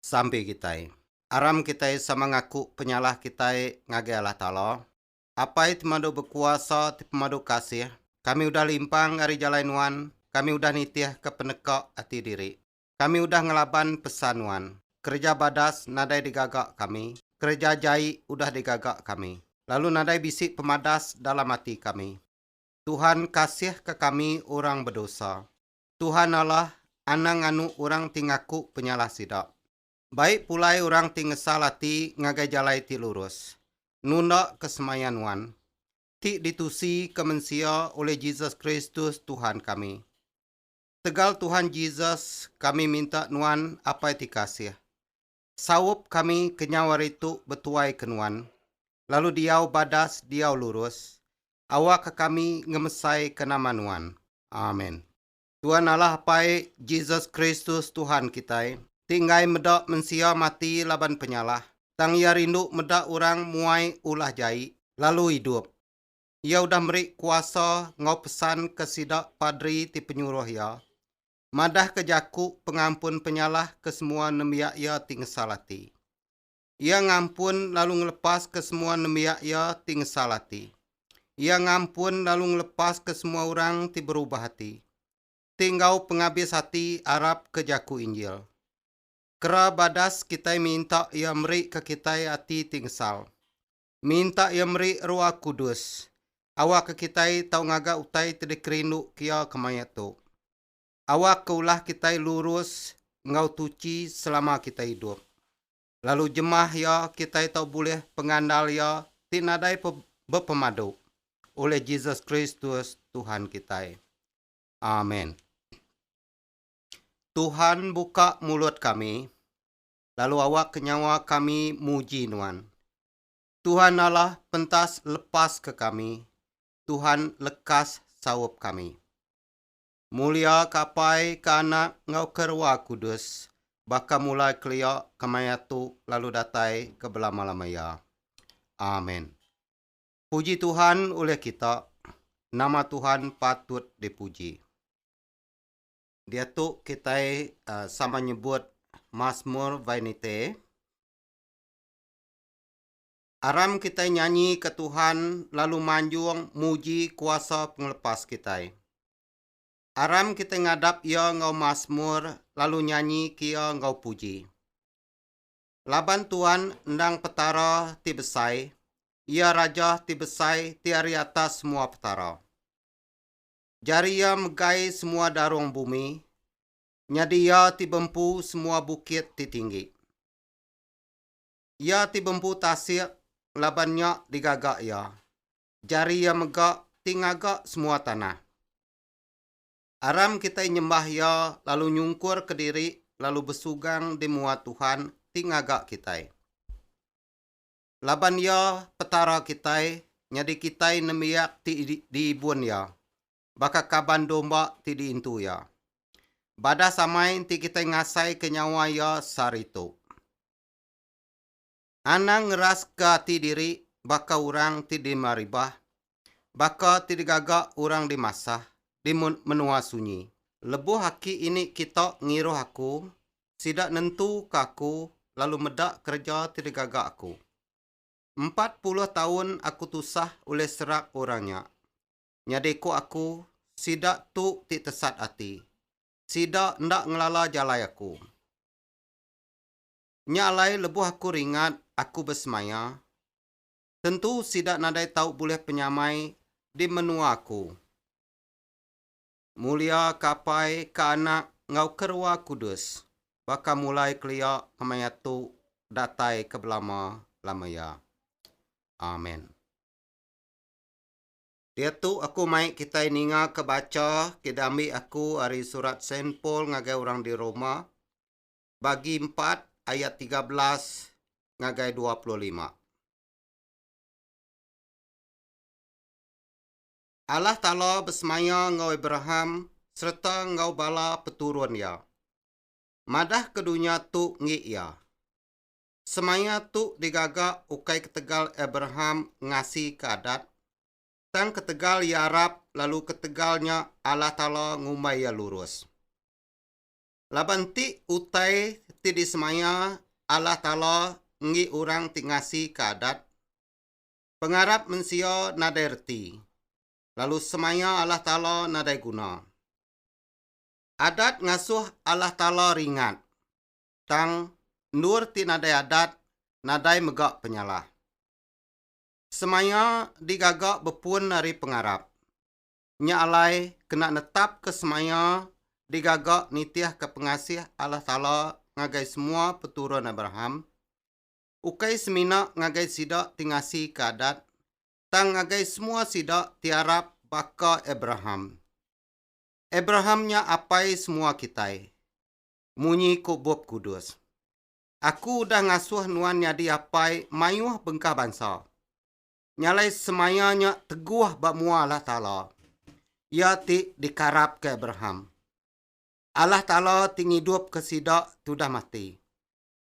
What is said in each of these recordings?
Sampi kitai. Aram kitai sama ngaku penyalah kitai ngagai Allah Taala, Apai ti madu bekuasa ti pemadu kasih, kami udah limpang ari jalai Nuan, kami udah nitihka peneka ati diri. Kami udah ngelaban pesan Nuan. Kereja badas nadai digaga kami, kereja jai udah digaga kami, lalu nadai bisi pemadas dalam ati kami. Tuhan kasihka kami orang bedosa, Tuhan Allah anang nganu orang ti ngaku penyalah sida. Baik pulai orang ti ngesal ati ngagai jalai ti lurus, nunda ke semaya nuan, ti ditusi ke mensia oleh Jesus Kristus Tuhan kami. Tegal Tuhan Jesus kami minta nuan apai ti kasih, Saup kami kenyau ari tu betuai ke nuan, lalu diau badas diau lurus, awakka kami ngemesaika nama nuan. Amen. Tuan Allah Apai, Jesus Kristus Tuhan kitai, ti enggai meda mensia mati laban penyalah, tang Iya rindu meda orang muai ulah jai, lalu idup. Iya udah meri kuasa enggau pesan ke sida padri ti penyuruh Iya, madahka jaku pengampun penyalah ke semua nembiak iya ti ngesal ati. Iya ngampun lalu ngelepaska semua nembiak iya ti ngesal ati. Iya ngampun lalu ngelepaska semua orang ti berubah ati, ti enggau pengabis ati arapka jaku Injil. Kera badas kitai minta Iya merika kitai ati ti ngesal. Minta Iya meri Ruah Kudus. Awakka kitai tau ngaga utai ti dikerinduka Iya kemaya tu. Awakka ulah kitai lurus enggau tuchi selama kitai idup. Lalu jemah Iya, kitai tau bulih pengandal Iya ti nadai bepemadu, oleh Jesus Kristus, Tuhan kitai. Amen. Tuhan, buka mulut kami. lalu awakka nyawa kami muji Nuan. Tuhan Allah pentas lepaska kami, Tuhan lekas saup kami. Mulia ke Apai, ke Anak, enggau ke Rua Kudus, baka mulai kelia, kemaiatu, lalu datai ke belama-lama iya. Amen. Puji Tuhan ulih kita, nama Tuhan patut dipuji. Diatu kitai sama nyebut Masmur Vainite. Aram kitai nyanyi ke Tuhan lalu manjung muji kuasa pengelepas kitai. Aram kitai ngadap Iya enggau masmur lalu nyanyi ke Iya enggau puji. Laban Tuan endang Petara ti besai, Iya Raja ti besai ti ari atas semua petara. Jari Iya megai semua darung bumi, nyadi Iya ti bempu semua bukit ti tinggi. Iya ti bempu tasik laban nya digaga Iya, jari Iya mega ti ngaga semua tanah. Aram kitai nyembah Iya lalu nyungkur kediri lalu besugang di mua Tuhan ti ngaga kitai. laban Iya Petara kitai nyadi kitai nembiak ti diibun Iya, baka kaban domba ti diintu Iya. Badas amai enti kitai ngasaika nyawa Iya saritu. Anang ngeraska ati diri baka orang ti dimaribah baka ti digaga orang di masa di menua sunyi. Lebuh aki ini kita ngiruh aku, sida nentuka aku lalu meda kereja ti digaga aku. Empat puluh taun aku tusah ulih serak orang nya. Nyadi ku aku, sida tu ti tesat ati. Sida enda ngelala jalai aku. Nya alai lebuh aku ringat aku besemaya, Tentu sida nadai tau bulih penyamai di menua aku. Mulia ke Apai, ke Anak, enggau ke Ruah Kudus, baka mulai kelia kemaya tu datai ke belama lamaya. Amen. Diatu aku mai kitai ninga ke bacha ke diambi aku ari surat Saint Paul ngagai orang di Roma, bagi empat ayat tiga belas ngagai dua puluh lima. Allah Taala besemaya enggau Abraham sereta enggau bala peturun iya. Madah ke dunya tu enggi iya. Semaya tu digaga ukai ketegal Abraham ngasi ke adat, tang ketegal iya arap lalu ketegal nya Allah Taala ngumbai iya lurus. Laban ti utai ti disemaya Allah Taala enggi orang ti ngasika adat, pengarap mensia nadai reti, lalu semaya Allah Taala nadai guna. Adat ngasuh Allah Taala ringat, tang endur ti nadai adat nadai mega penyalah. Semaya digaga bepun ari pengarap, Nya alai kena netapka semaya digaga nitihka pengasih Allah Taala ngagai semua peturun Abraham, ukai semina ngagai sida ti ngasika adat, tang ngagai semua sida ti arap baka Abraham. Abraham nya apai semua kitai. Munyi ku Bup Kudus, Aku udah ngasuh nuan nyadi apai mayuh bengkah bansa. nyalai semaya nya teguh ba mua Allah Taala, iya ti dikarapka Abraham. Allah Taala ti ngidupka sida tudah mati.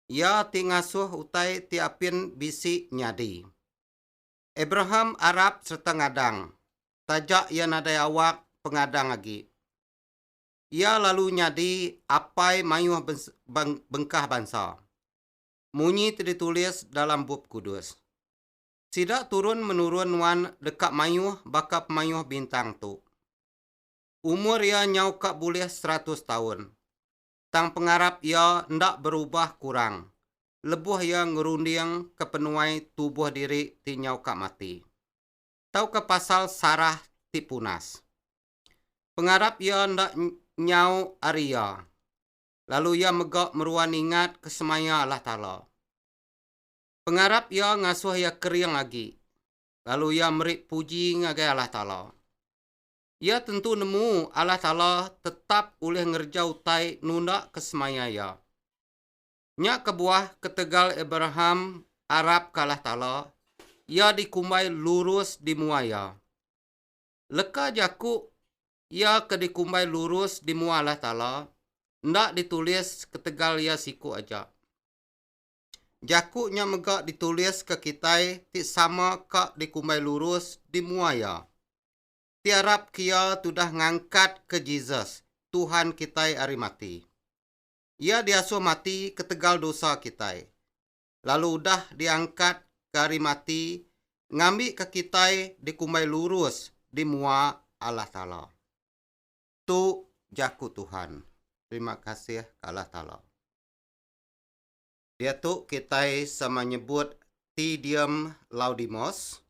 Iya ti ngasuh utai ti apin bisi nyadi. Abraham arap sereta ngadang, taja iya nadai awak pengadang agi. Iya lalu nyadi apai mayuh bengkah bansa, munyi ti ditulis dalam Bup Kudus. Sida turun menurun nuan deka mayuh baka pemayuh bintang tu. Umur iya nyau ka bulih seratus taun. Tang pengarap iya enda berubah kurang lebuh iya ngerunding ke penuai tubuh diri ti nyau ka mati, tauka pasal sarah ti punas. Pengarap iya enda nyau ari iya, lalu iya mega meruan ingat ke semaya Allah Taala. Pengarap iya ngasuh iya kering agi, lalu iya meri puji ngagai Allah Taala. Iya tentu nemu Allah Taala tetap ulih ngereja utai nundaka semaya iya. Nya kebuah ketegal Abraham arapka Allah Taala, iya dikumbai lurus di mua Iya. Leka jaku iya ke dikumbai lurus di mua Allah Taala enda ditulis ketegal iya siku aja. Jaku nya mega dituliska kitai ti sama ka dikumbai lurus di mua iya. Ti arap ke iya tudah ngangkatka Jesus, Tuhan kitai ari mati. Iya diasuh mati ketegal dosa kitai, lalu udah diangkatka ari mati ngambika kitai dikumbai lurus di mua Allah Taala. Tu Jaku Tuhan. Terima kasih ka Allah Taala. Diatu kitai sama nyebut Te Deum Laudimos.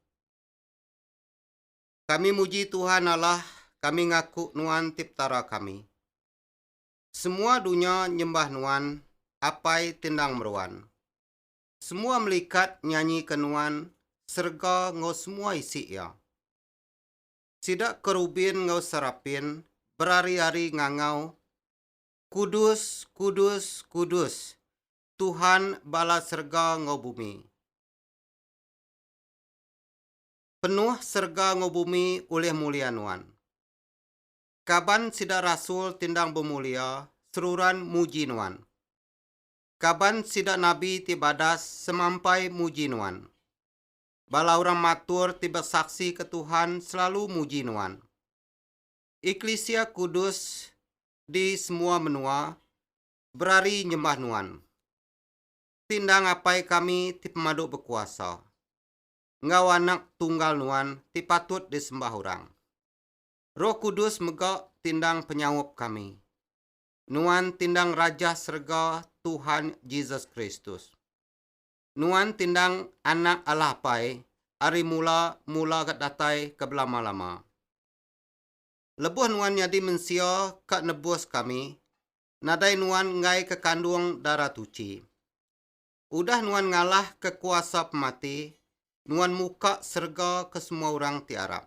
Kami muji Tuhan Allah, kami ngaku Nuan ti Petara kami. Semua dunya nyembah Nuan, Apai ti endang meruan. Semua melikat nyanyika Nuan, serega enggau semua isi iya. Sida kerubin enggau serapin berari-ari ngangau Kudus, kudus, kudus, Tuhan bala serega enggau bumi. Penuh serega enggau bumi ulih mulia Nuan. Kaban sida rasul ti endang bemulia seruran muji Nuan. Kaban sida nabi ti badas semampai muji Nuan. Bala orang matur ti besaksika Tuhan selalu muji Nuan. Eklisia kudus di semua menua berari nyembah Nuan. Ti endang Apai kami ti pemadu bekuasa, enggau Anak Tunggal Nuan ti patut disembah orang. Roh Kudus mega ti endang penyaup kami. Nuan ti endang Raja serega Tuhan Jesus Kristus. Nuan ti endang Anak Allah Apai ari mula-mula ga datai ke belama-lama. Lebuh nuan nyadi mensia ka nebus kami, nadai nuan enggaika kandung dara tuchi. Udah nuan ngalahka kuasa pemati, nuan muka serega ke semua orang ti arap.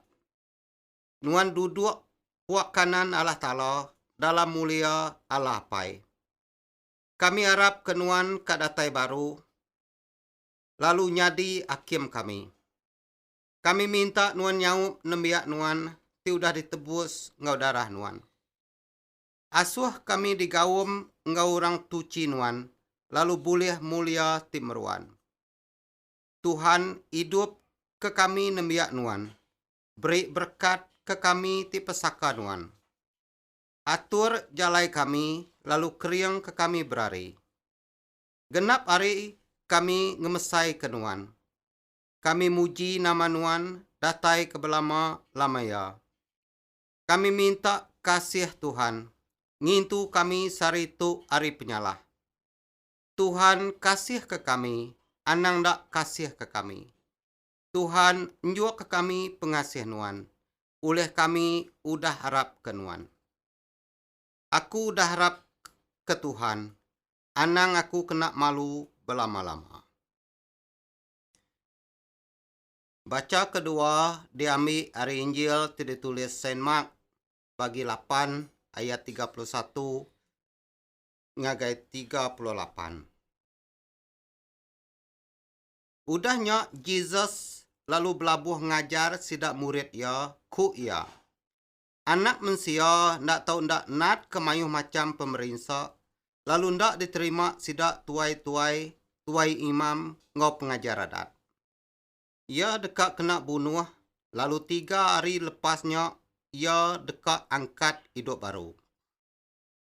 Nuan duduk puak kanan Allah Taala dalam mulia Allah Apai. Kami arap ke nuan ka datai baru lalu nyadi akim kami. Kami minta nuan nyaup nembiak nuan ti udah ditebus enggau darah nuan. Asuh kami digaum enggau orang tuchi nuan lalu bulih mulia ti meruan. Tuhan idup ke kami nembiak nuan, beri berekat ke kami ti pesaka nuan. Atur jalai kami lalu kering ke kami berari. Genap ari kami ngemesai ke nuan. kami muji nama Nuan datai ke belama lama iya. Kami minta kasih Tuhan ngintu kami sehari tu ari penyalah. Tuhan kasih ke kami anang enda kasih ke kami. Tuhan njuk ke kami pengasih Nuan ulih kami udah arap ke Nuan. Aku udah arap ke Tuhan anang aku kena malu belama lama. Bacha kedua diambi ari Injil ti ditulis Saint Mark bagi lapan ayat tiga puluh satu ngagai tiga puluh lapan. Udah nya Jesus lalu belabuh ngajar sida murid iya, ku iya, Anak Mensia enda tau enda natka mayuh macham pemerinsa, lalu enda diterima sida tuai-tuai, tuai imam, enggau pengajar adat. Iya deka kena bunuh, lalu tiga hari lepas nya iya deka angkat idup baru.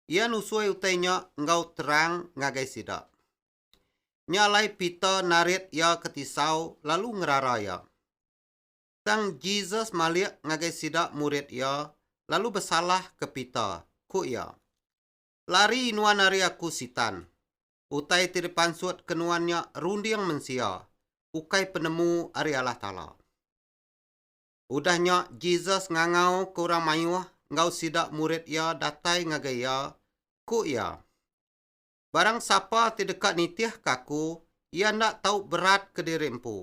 Iya nusui utai nya enggau terang ngagai sida. Nya alai Peter narit iya ke tisau lalu ngerara iya. Tang Jesus malik ngagai sida murid iya lalu besalah ke Peter, ku iya, Lari nuan ari aku, Sitan! Utai ti dipansut ke nuan nya runding mensia, ukai penemu ari Allah Taala. Udah nya Jesus ngangau ke orang mayuh enggau sida murid iya datai ngagai iya, ku iya, Barang sapa ti deka nitihka aku, iya enda tau berat kediri empu.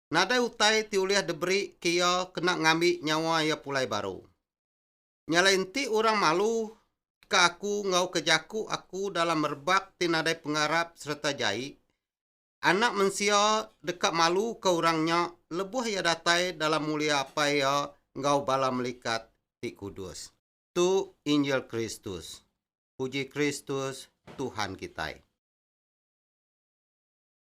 nadai utai ti ulih diberi ke iya kena ngambi nyawa iya pulai baru. Nya alai enti orang malu ka aku enggau ke jaku aku dalam rebak ti nadai pengarap sereta jai, Anak Mensia deka malu ka orang nya lebuh iya datai dalam mulia Apai iya enggau bala melikat ti kudus. Tu Injil Kristus. Puji Kristus, Tuhan kitai.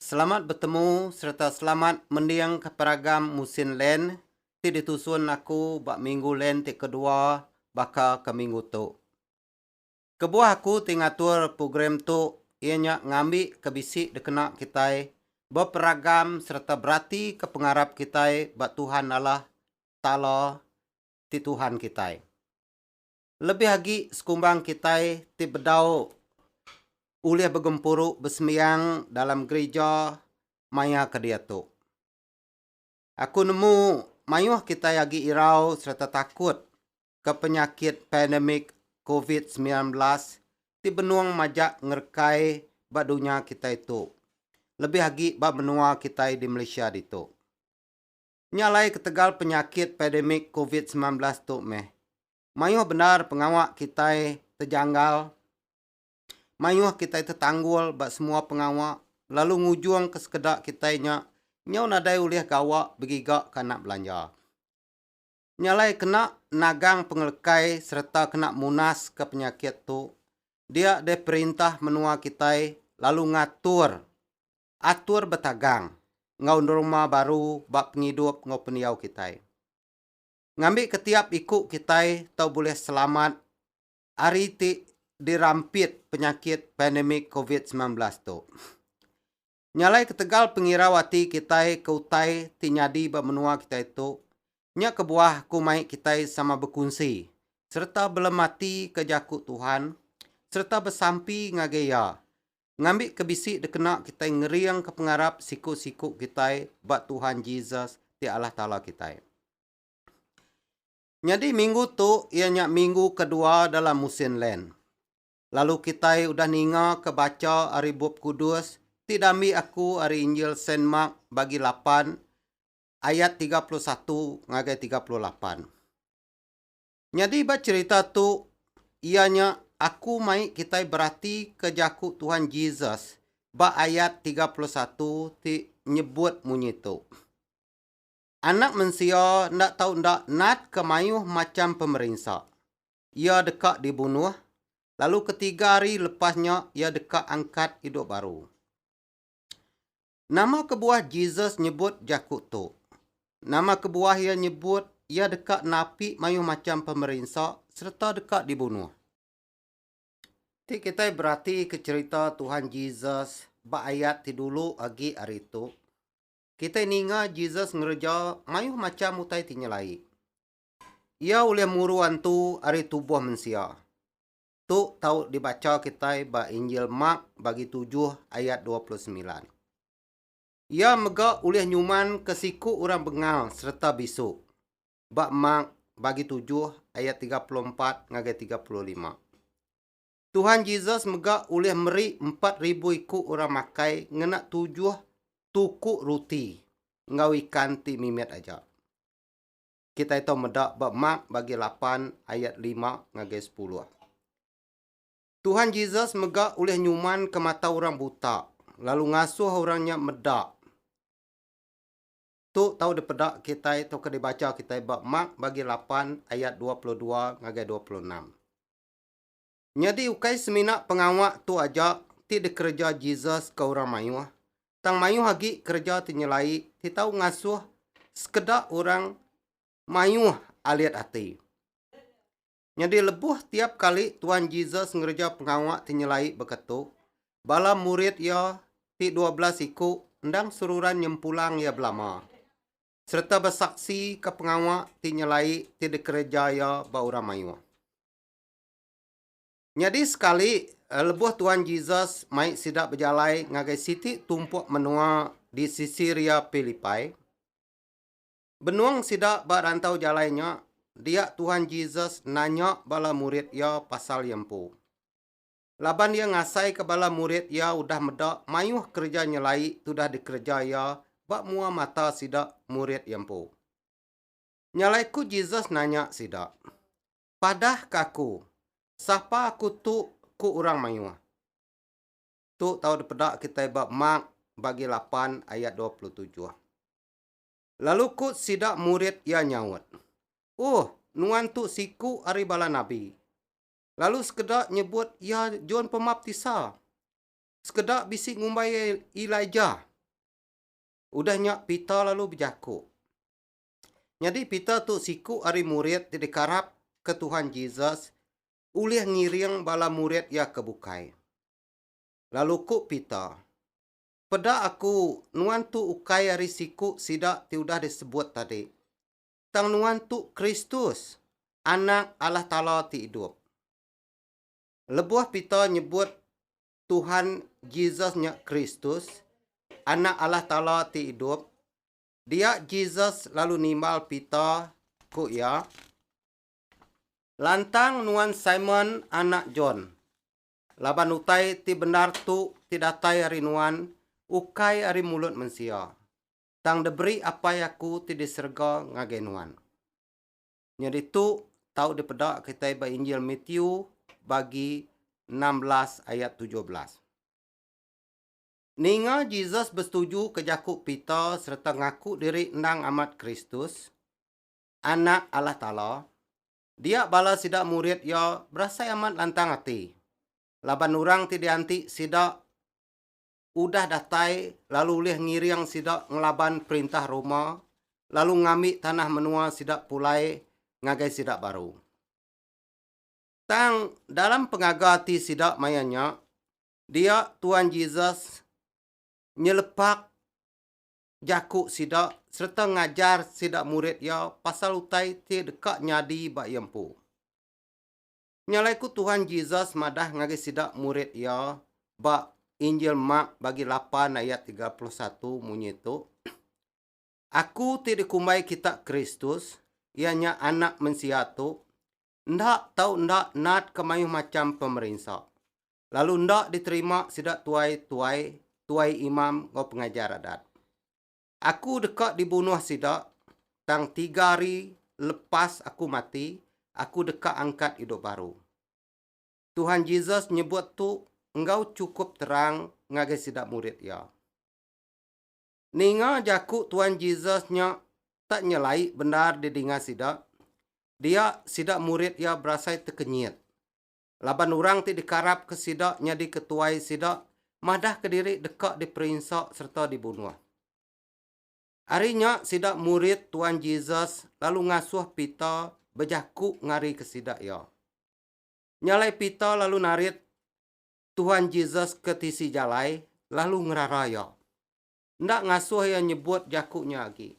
Selamat betemu sereta selamat mendingka peragam Musin Land ti ditusun aku ba Minggu Land ti kedua baka ke minggu tu. Kebuah aku ti ngatur program tu iya nya ngambi ke bisi dikena kitai beperagam sereta beratika pengarap kitai ba Tuhan Allah Taala ti Tuhan kitai. Lebih agi sekumbang kitai ti bedau ulih begempuru besembiang dalam gerija maya ke diatu. Aku nemu mayuh kitai agi irau sereta takut ke penyakit pandemik covid semilan belas ti benung majak ngerekai ba dunya kitai tu, lebih agi ba menua kitai di Malaysia ditu. nya alai ketegal penyakit pandemik covid semilan belas tu meh. Mayuh bendar pengawa kitai tejanggal, mayuh kitai tetanggul ba semua pengawa lalu ngujungka sekeda kitai nya nyau nadai ulih gawa begiga ke anak belanja. Nya alai kena nagang pengelekai sereta kena munaska penyakit tu dia deh perintah menua kitai lalu ngatur Atur betagang enggau norma baru ba pengidup enggau pendiau kitai. Ngambika tiap iku kitai tau bulih selamat ari ti dirampit penyakit pandemik covid semilan belas tu. Nyalai ketegal pengirau ati kitai ke utai ti nyadi ba menua kitai tu, nya kebuah ku mai kitai sama bekunsi sereta belematika jaku Tuhan sereta besampi ngagai Iya ngambi ke bisi dikena kitai ngeringka pengarap siku-siku kitai ba Tuhan Jesus ti Allah Taala kitai. Nyadi minggu tu iya nya minggu kedua dalam musin Lent. Lalu kitai udah ninga ke bacha ari Bup Kudus ti dambi aku ari Injil Saint Mark bagi lapan ayat tiga puluh satu ngagai tiga puluh lapan. Nyadi ba cherita tu iya nya aku mai kitai berati ke jaku Tuhan Jesus ba ayat tiga puluh satu ti nyebut munyi tu. Anak mensia enda tau enda nat ke maioh macham pemerinsa. Iya deka dibunuh, lalu ketiga hari lepas nya iya deka angkat idup baru. Nama kebuah Jesus nyebut jaku tu? Nama kebuah iya nyebut iya deka napi mayuh macham pemerinsa sereta deka dibunuh? Ti kitai beratika cherita Tuhan Jesus ba ayat ti dulu agi ari tu, kitai ninga Jesus ngereja mayuh macham utai ti nyelai. Iya ulih muru antu ari tubuh mensia. Tu tau dibacha kitai ba Injil Mark bagi tujuh ayat dua puluh semilan. Iya mega ulih nyumanka siku orang bengal sereta bisu ba Mark bagi tujuh ayat tiga puluh empat ngagai tiga puluh lima. Tuhan Jesus mega ulih meri empat ribu iku orang makai ngena tujuh tuku ruti enggau ikan ti mimit aja. kitai tau meda ba Mark bagi lapan ayat lima ngagai sepuluh. Tuhan Jesus mega ulih nyuman ke mata orang buta lalu ngasuh orang nya meda. Tu tau dipeda kitai tauka dibacha kitai ba Mark bagi lapan ayat dua puluh dua ngagai dua puluh enam. Nyadi ukai semina pengawa tu aja ti dikereja Jesus ke orang mayuh, tang mayuh agi kereja ti nyelai ti tau ngasuh sekeda orang mayuh alit ati. Nyadi lebuh tiap kali Tuan Jesus ngereja pengawa ti nyelai baka tu, bala murid iya ti dua belas iku endang seruran nyempulang iya belama sereta besaksika pengawa ti nyelai ti dikereja iya ba orang mayuh. Nyadi sekali, lebuh Tuan Jesus mai sida bejalai ngagai siti tumpuk menua di Caesarea Philippi, benung sida ba rantau jalai nya, dia Tuan Jesus nanya bala murid iya pasal iya empu. Laban iya ngasaika bala murid iya udah meda mayuh kereja nyelai ti udah dikereja iya ba mua mata sida, murid iya empu. Nya alai ku Jesus nanya sida, Padah ke aku, Sapa aku tu? ku orang mayuh. Tu tau dipeda kitai ba Mark bagi lapan ayat dua puluh tujuh. Lalu ku sida murid iya nyaut, Uhuh, nuan tu siku ari bala nabi. Lalu sekeda nyebut iya John Pemaptisa, sekeda bisi ngumbai iya Elijah. Udah nya Peter lalu bejaku, Nyadi Peter tu siku ari murid ti dikarap ke Tuhan Jesus ulih ngiring bala murid iya ke bukai. Lalu ku Peter, Peda aku nuan tu ukai ari siku sida ti udah disebut tadi, tang nuan tu Kristus, Anak Allah Taala ti idup. Lebuh Peter nyebut Tuhan Jesus nya Kristus, Anak Allah Taala ti idup, Dia Jesus lalu nimbal Peter, ku iya, Lantang nuan Simon anak John, laban utai ti bendar tu ti datai ari nuan ukai ari mulut mensia, tang diberi Apai aku ti di serega ngagai nuan. Nya ditu tau dipeda kitai ba Injil Matthew bagi enam belas ayat tujuh belas. Ninga Jesus besetujuka jaku Peter sereta ngaku diri endang amat Kristus, Anak Allah Taala, dia bala sida murid iya berasai amat lantang ati laban orang ti dianti sida udah datai lalu ulih ngiring sida ngelaban perintah Roma lalu ngambi tanah menua sida pulai ngagai sida baru. Tang dalam pengaga ati sida maya nya, Dia Tuan Jesus nyelepak jaku sida sereta ngajar sida murid iya pasal utai ti deka nyadi ba iya empu. Nya alai ku Tuan Jesus madah ngagai sida murid iya ba Injil Mark bagi lapan ayat tiga puluh satu munyi tu, Aku ti dikumbai kita Kristus, iya nya Anak Mensia tu, enda tau enda natka mayuh macham pemerinsa, lalu enda diterima sida tuai tuai, tuai imam enggau pengajar adat. Aku deka dibunuh sida, tang tiga hari lepas aku mati, aku deka angkat idup baru. Tuhan Jesus nyebut tu enggau chukup terang ngagai sida murid iya. Ninga jaku Tuan Jesus nya tak nyelai bendar didinga sida, dia sida murid iya berasai tekenyit. Laban orang ti dikarapka sida nyadi ketuai sida madahka diri deka diperinsa sereta dibunuh. Ari nya sida murid Tuan Jesus lalu ngasuh Peter bejaku ngarika sida iya. Nya alai Peter lalu narit Tuhan Jesus ke tisi jalai lalu ngerara iya. Enda ngasuh iya nyebut jaku nya agi.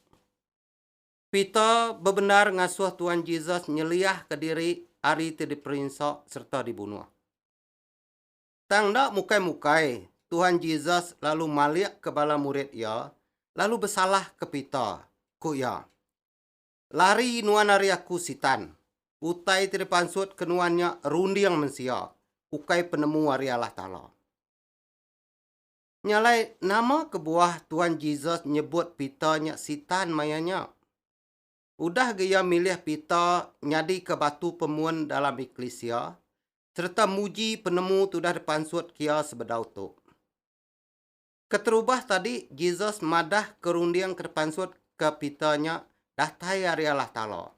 Peter bebendar ngasuh Tuhan Jesus nyeliahka diri ari ti diperinsa sereta dibunuh. Tang enda mukai-mukai, Tuhan Jesus lalu malikka bala murid iya lalu besalahka Peter, ku iya, Lari nuan ari aku, Sitan! Utai ti dipansut ke nuan nya runding mensia, ukai penemu ari Allah Taala. Nya alai, nama kebuah Tuan Jesus nyebut Peter nya Sitan maya nya? Udah ga iya milih Peter nyadika batu pemun dalam eklisia sereta muji penemu ti udah dipansut ke iya sebedau tu. Keterubah tadi, Jesus madah ke runding ke tepansut ke Peter nya datai ari Allah Taala.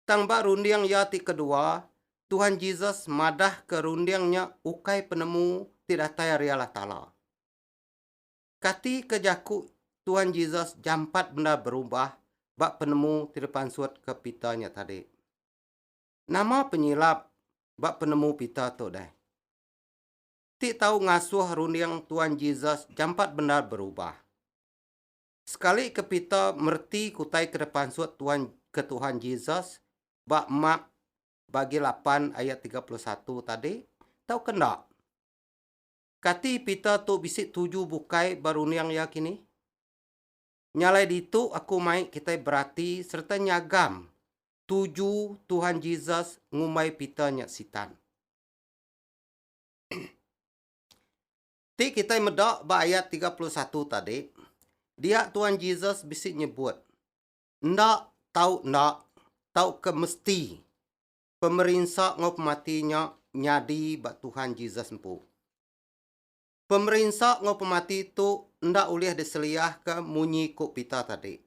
Tang ba runding iya ti kedua, Tuhan Jesus madah ke runding nya ukai penemu ti datai ari Allah Taala. Kati ke jaku Tuhan Jesus jampat bendar berubah ba penemu ti dipansut ke Peter nya tadi? Nama penyilap ba penemu Peter tu deh? ti tau ngasuh runding Tuan Jesus jampat bendar berubah. Sekali ke Peter mereti kutai ke dipansut Tuan ke Tuhan Jesus ba Mark bagi lapan ayat tiga puluh satu tadi tauka enda? Kati Peter tu bisi tuju bukai ba runding iya kini? Nyalai ditu aku mai kitai berati sereta nyagam tuju Tuhan Jesus ngumbai Peter nya Sitan. Ti kitai meda ba ayat tiga puluh satu tadi, dia Tuan Jesus bisi nyebut, Enda tau enda tauka mesti pemerinsa enggau pemati nya nyadi ba Tuhan Jesus empu. Pemerinsa enggau pemati tu enda ulih diseliahka munyi ku Peter tadi.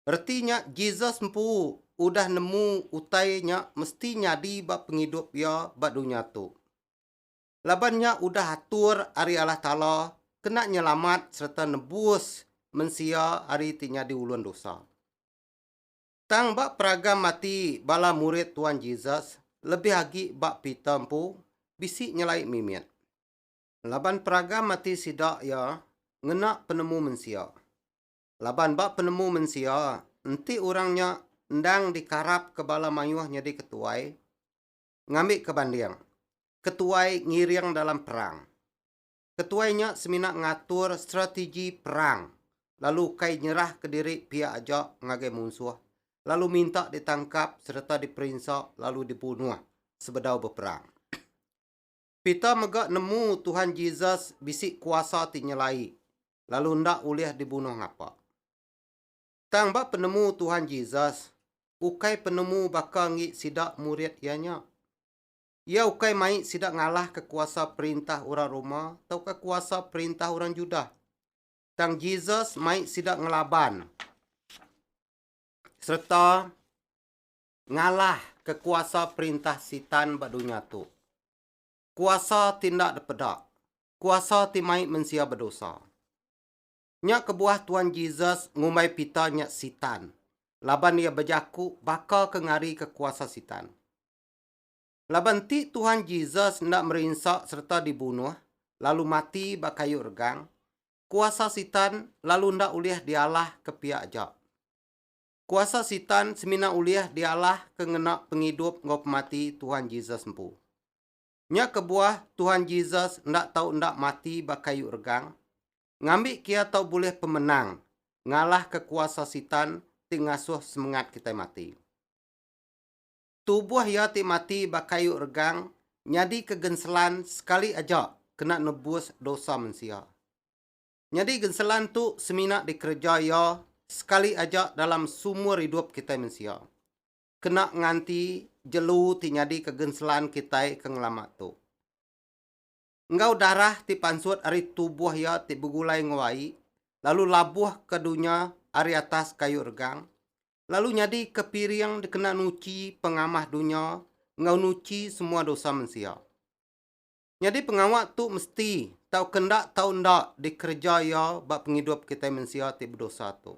Reti nya Jesus empu udah nemu utai nya mesti nyadi ba pengidup iya ba dunya tu. Laban nya udah atur ari Allah Taala kena nyelamat sereta nebus mensia ari ti nyadi ulun dosa. Tang ba peragam ati bala murid Tuan Jesus lebih agi ba Peter empu bisi nyelai mimit. Laban peragam ati sida iya ngena penemu mensia. Laban ba penemu mensia, enti orang nya endang dikarapka bala mayuh nyadi ketuai, ngambika banding, ketuai ngiring dalam perang. Ketuai nya semina ngatur strategi perang lalu ukai nyerahka diri pia aja ngagai munsuh lalu minta ditangkap sereta diperinsa lalu dibunuh sebedau beperang. Peter mega nemu Tuhan Jesus bisi kuasa ti nyelai lalu enda ulih dibunuh ngapa. Tang ba penemu Tuhan Jesus, ukai penemu baka enggi sida murid iya nya. Iya ukai mai sida ngalahka kuasa perintah orang Roma tauka kuasa perintah orang Judah. Tang Jesus mai sida ngelaban sereta Ngalah ke kuasa perintah Sitan ba dunya tu. Kuasa ti enda dipeda. Kuasa ti mai mensia bedosa. Nya kebuah Tuan Jesus ngumbai pita nya Sitan laban iya bejaku baka ke ngarika kuasa Sitan. Laban enti Tuhan Jesus enda merinsa sereta dibunuh lalu mati ba kayu regang, kuasa Sitan lalu enda ulih dialah ke pia aja. Kuasa Sitan semina ulih dialah ke ngena pengidup enggau pemati Tuhan Jesus empu. Nya kebuah Tuhan Jesus enda tau enda mati ba kayu regang, ngambi kia tau bulih pemenang ngalahka kuasa Sitan ti ngasuh semengat kitai mati. Tubuh iya ti mati ba kayu regang nyadika genselan sekali aja kena nebus dosa mensia. Nyadi genselan tu semina dikereja iya sekali aja dalam seumur idup kitai mensia. Kena nganti jelu ti nyadika genselan kitai ke ngelama tu. Enggau darah ti pansut ari tubuh iya ti begulai enggau ai lalu labuhka dunya ari atas kayu regang lalu nyadika piring dikena nuchi pengamah dunya enggau nuchi semua dosa mensia. Nyadi pengawa tu mesti tauka enda tau enda dikereja iya ba pengidup kitai mensia ti bedosa tu.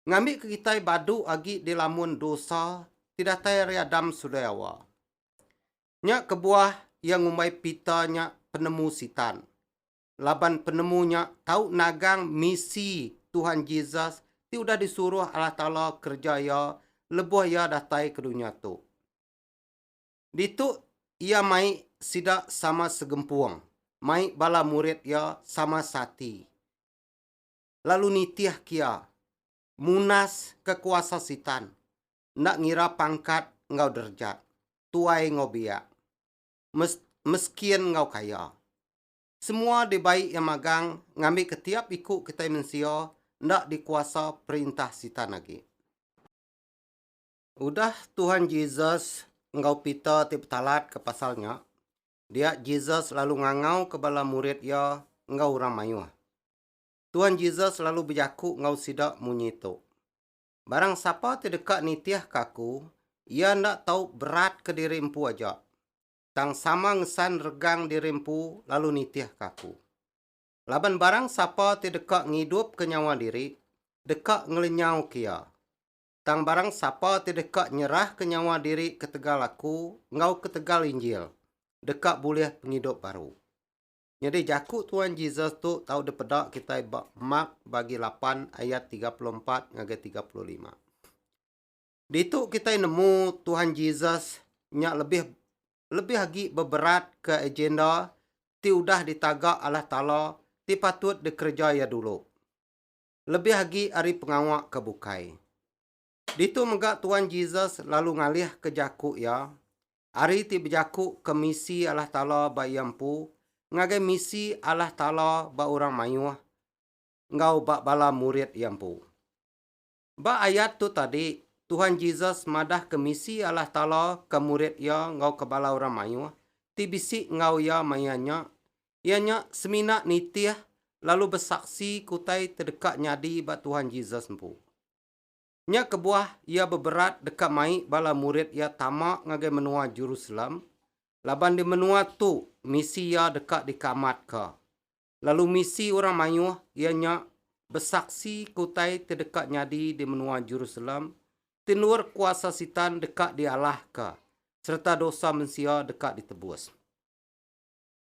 Ngambika kitai badu agi dilamun dosa ti datai ari Adam sulai Hawa. Nya kebuah iya ngumbai Pita nya penemu Sitan. Laban penemu nya tau nagang misi Tuhan Jesus ti udah disuruh Allah Taala kereja iya lebuh iya datai ke dunya tu. Ditu Iya mai sida sama segempung, mai bala murid Iya sama seati, lalu nitih kia, munas ke kuasa Sitan, enda ngira pangkat enggau derejat, tuai enggau biak, mes, meskin enggau kaya. Semua dibai Iya magang ngambika tiap iku kitai mensia enda dikuasa perintah Sitan agi. Udah Tuhan Jesus enggau Peter ti betalatka pasal nya, dia Jesus lalu ngangauka bala murid iya enggau orang mayuh. Tuhan Jesus lalu bejaku enggau sida munyi tu, Barang sapa ti deka nitihka aku, iya enda tau beratka diri empu aja, tang sama ngesan regang diri empu lalu nitihka aku. Laban barang sapa ti deka ngidupka nyawa diri, deka ngelenyauka iya. Tang barang sapa ti deka nyerahka nyawa diri ketegal Aku enggau ketegal Injil, deka bulih pengidup baru. Nyadi jaku Tuan Jesus tu tau dipeda kitai ba Mark bagi lapan ayat tiga puluh empat ngagai tiga puluh lima. Ditu kitai nemu Tuan Jesus nya lebih lebih agi beberatka agenda ti udah ditaga Allah Taala ti patut dikereja Iya dulu. lebih agi ari pengawa ke bukai. Ditu mega Tuan Jesus lalu ngalihka jaku iya ari ti bejaku ke misi Allah Taala ba iya empu ngagai misi Allah Taala ba orang mayuh enggau ba bala murid iya empu. Ba ayat tu tadi, Tuhan Jesus madahka misi Allah Taala ke murid iya enggau ke bala orang mayuh ti bisi enggau iya maya nya iya nya semina nitih lalu besaksi ke utai te deka nyadi ba Tuhan Jesus empu. Nya kebuah iya beberat deka mai bala murid iya tama ngagai menua Jerusalem, laban di menua tu misi iya deka dikeamatka. Lalu misi orang mayuh iya nya besaksi ke utai te deka nyadi di menua Jerusalem, ti endur kuasa Sitan deka dialahka sereta dosa mensia deka ditebus.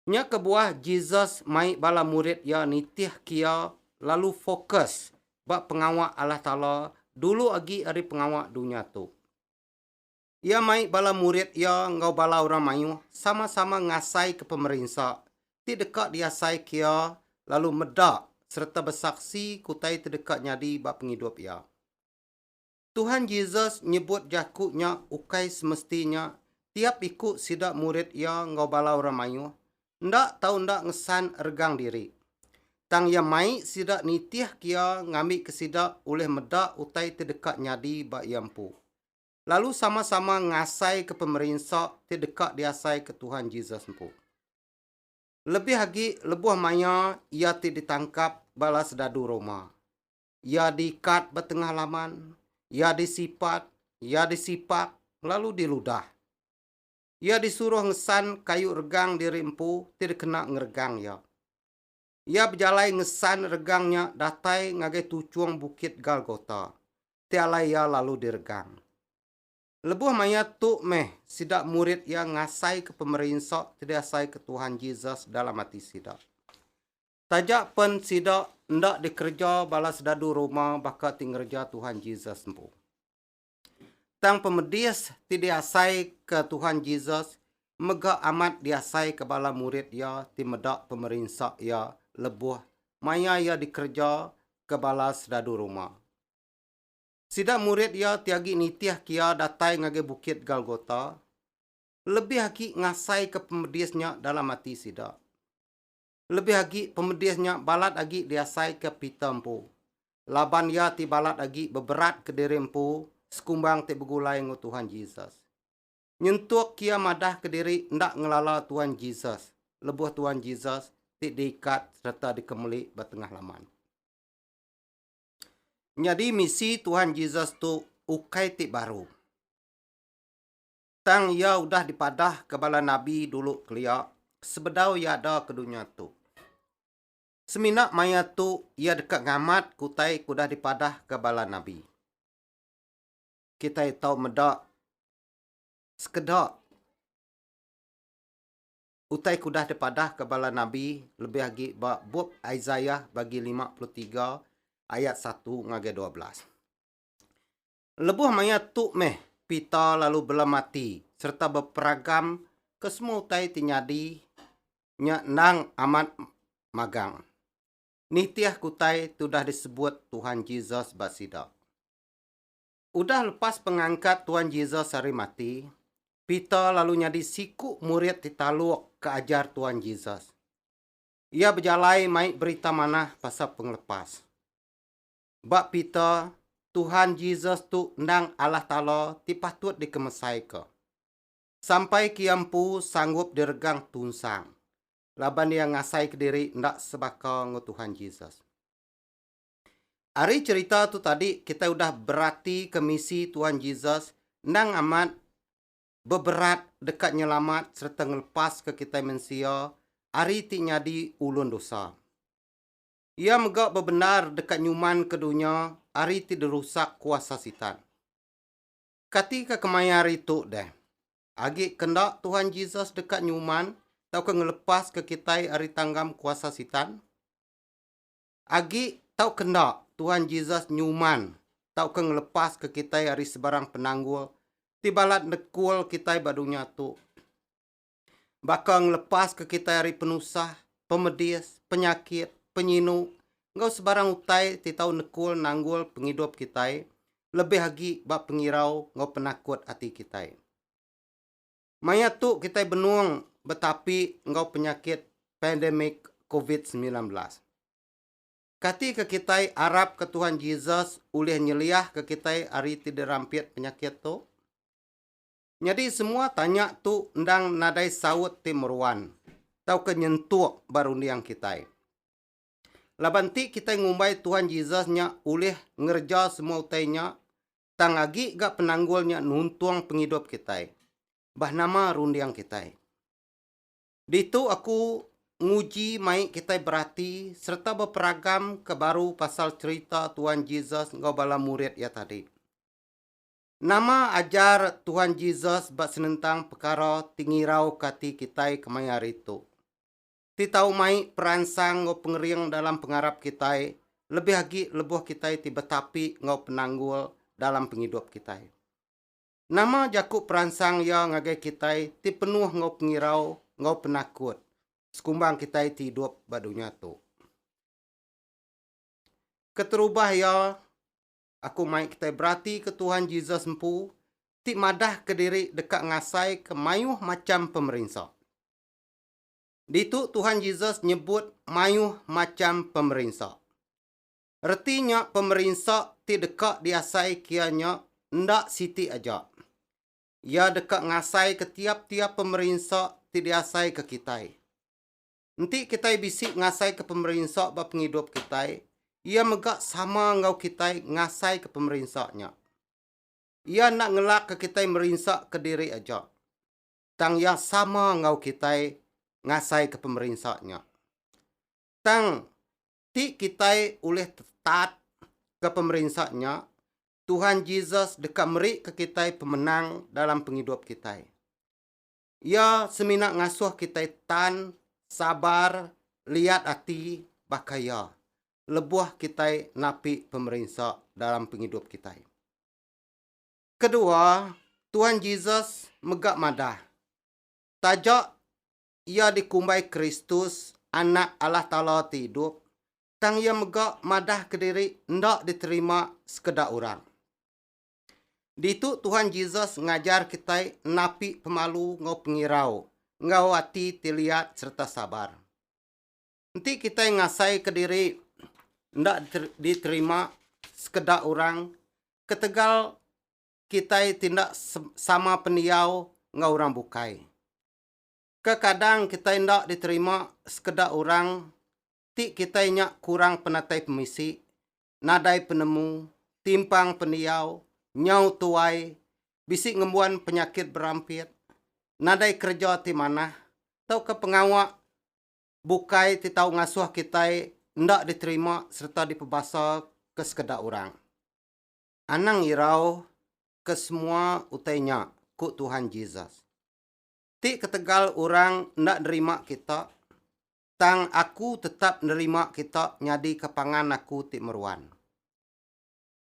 Nya kebuah Jesus mai bala murid iya nitih kia lalu fokus ba pengawa Allah Taala dulu agi ari pengawa dunya tu. Iya mai bala murid iya enggau bala orang mayuh sama-sama ngasaika pemerinsa ti deka diasai kia lalu meda sereta besaksi ke utai ti deka nyadi ba pengidup iya. Tuhan Jesus nyebut jaku nya ukai semesti nya tiap iku sida murid iya enggau bala orang mayuh enda tau enda ngesan regang diri. Tang iya mai sida nitihka iya ngambika sida ulih meda utai ti deka nyadi ba iya empu, lalu sama-sama ngasaika pemerinsa ti deka diasaika Tuhan Jesus empu. Lebih agi lebuh maya iya ti ditangkap bala sedadu Roma, Iya diikat ba tengah laman, iya disipat, iya disipak, lalu diludah. Iya disuruh ngesan kayu regang diri empu ti dikena ngeregang iya. Iya bejalai ngesan regang nya datai ngagai tuchung Bukit Galgota, ti alai iya lalu diregang. Lebuh maya tu meh sida murid iya ngasaika pemerinsa ti diasaika Tuhan Jesus dalam ati sida. Taja pen sida enda dikereja bala sedadu Roma baka ti ngereja Tuhan Jesus empu. Tang pemedis ti diasaika Tuhan Jesus mega amat diasaika bala murid iya ti meda pemerinsa iya lebuh maya iya dikereja ke bala sedadu Roma. Sida murid iya ti agi nitihka iya datai ngagai Bukit Galgota lebih agi ngasaika pemedis nya dalam ati sida. Lebih agi pemedis nya balat agi diasaika Peter empu. Laban iya ti balat agi beberat kediri empu sekumbang ti begulai enggau Tuhan Jesus. Nyentuk iya madahka diri enda ngelala Tuhan Jesus lebuh Tuhan Jesus ti diikat sereta dikemeli ba tengah laman. Nyadi misi Tuhan Jesus tu ukai ti baru. Tang iya udah dipadahka bala nabi dulu kelia sebedau iya ada ke dunya tu. Semina maya tu iya deka ngamat ke utai ke udah dipadahka bala nabi. Kitai tau meda sekeda utai ke udah dipadahka bala nabi lebih agi ba bup Isaiah bagi lima puluh tiga ayat satu ngagai dua belas. Lebuh maya tu meh, Pita lalu belem ati sereta beperagam ke semua utai ti nyadi nya endang amat magang nitih ke utai ti udah disebut Tuhan Jesus ba sida. Udah lepas pengangkat Tuhan Jesus ari mati, Pita lalu nyadi siku murid ti taluk ke ajar Tuhan Jesus. Iya bejalai mai berita manah pasal pengelepas. Ba pita, Tuhan Jesus tu endang Allah Taala ti patut dikemesaika. Sampai ke Iya empu sanggup diregang tunsang, laban Iya ngasaika diri enda sebaka enggau Tuhan Jesus. Ari cherita tu tadi kitai udah beratika misi Tuhan Jesus endang amat beberat deka nyelamat sereta ngelepaska kitai mensia ari ti nyadi ulun dosa. Iya mega bebendar deka nyumanka dunya ari ti dirusak kuasa Sitan. Kati ke kemaya hari tu deh? Agi ke enda Tuhan Jesus deka nyuman tauka ngelepaska kitai ari tanggam kuasa Sitan? Agi tauka enda Tuhan Jesus nyuman tauka ngelepaska kitai ari sebarang penanggul ti balat nekul kitai ba dunya tu. baka ngelepaska kitai ari penusah, pemedis, penyakit, penyinu enggau sebarang utai ti tau nekul nanggul pengidup kitai lebih agi ba pengirau enggau penakut ati kitai. Maya tu kitai benung betapi enggau penyakit pandemik covid semilan belas. Katika kitai arapka Tuhan Jesus ulih nyeliahka kitai ari ti dirampit penyakit tu? Nyadi semua tanya tu endang nadai saut ti meruan tauka nyentuk ba runding kitai. Laban ti kitai ngumbai Tuhan Jesus nya ulih ngereja semua utai nya, tang agi ga penanggul nya nuntung pengidup kitai. Bah nama runding kitai? Ditu aku nguji mai kitai berati sereta beperagam ke baru pasal cherita Tuhan Jesus enggau bala murid iya tadi. Nama ajar Tuhan Jesus ba senentang pekara ti ngirauka ati kitai kemaya hari tu? Ti tau mai peransang enggau pengering dalam pengarap kitai, lebih agi lebuh kitai ti betapi enggau penanggul dalam pengidup kitai. Nama jaku peransang iya ngagai kitai ti penuh enggau pengirau enggau penakut sekumbang kitai ti idup ba dunya tu? Keterubah iya, Aku mai kitai beratika Tuhan Jesus empu ti madahka diri deka ngasaika mayuh macham pemerinsa. Ditu Tuhan Jesus nyebut mayuh macham pemerinsa. Reti nya pemerinsa ti deka diasaika iya nya enda siti aja. Iya deka ngasaika tiap-tiap pemerinsa ti diasaika kitai. Enti kitai bisi ngasaika pemerinsa ba pengidup kitai, iya mega sama enggau kitai ngasaika pemerinsa nya. Iya enda ngelakka kitai merinsaka diri aja, tang iya sama enggau kitai ngasaika pemerinsa nya. Tang, ti kitai ulih tetat ke pemerinsa nya, Tuhan Jesus deka merika kitai pemenang dalam pengidup kitai. Iya semina ngasuh kitai tan sabar liat ati baka Iya lebuh kitai napi pemerinsa dalam pengidup kitai. Kedua, Tuan Jesus mega madah, taja Iya dikumbai Kristus, Anak Allah Taala ti idup, tang Iya mega madah kediri enda diterima sekeda orang. Ditu Tuhan Jesus ngajar kitai napi pemalu enggau pengirau, enggau ati ti liat sereta sabar. Enti kitai ngasaika diri enda diterima sekeda orang ketegal kitai ti enda sama pendiau enggau orang bukai. Kekadang kitai enda diterima sekeda orang ti kitai nya kurang penatai pemisi, nadai penemu, timpang pendiau, nyau tuai, bisi ngembuan penyakit berampit, nadai kereja ti manah, tauka pengawa bukai ti tau ngasuh kitai enda diterima sereta dipebasa ke sekeda orang. Anang irau ke semua utai nya, ku Tuhan Jesus. Ti ketegal orang enda nerima kita, tang Aku tetap nerima kita nyadika pangan Aku ti meruan.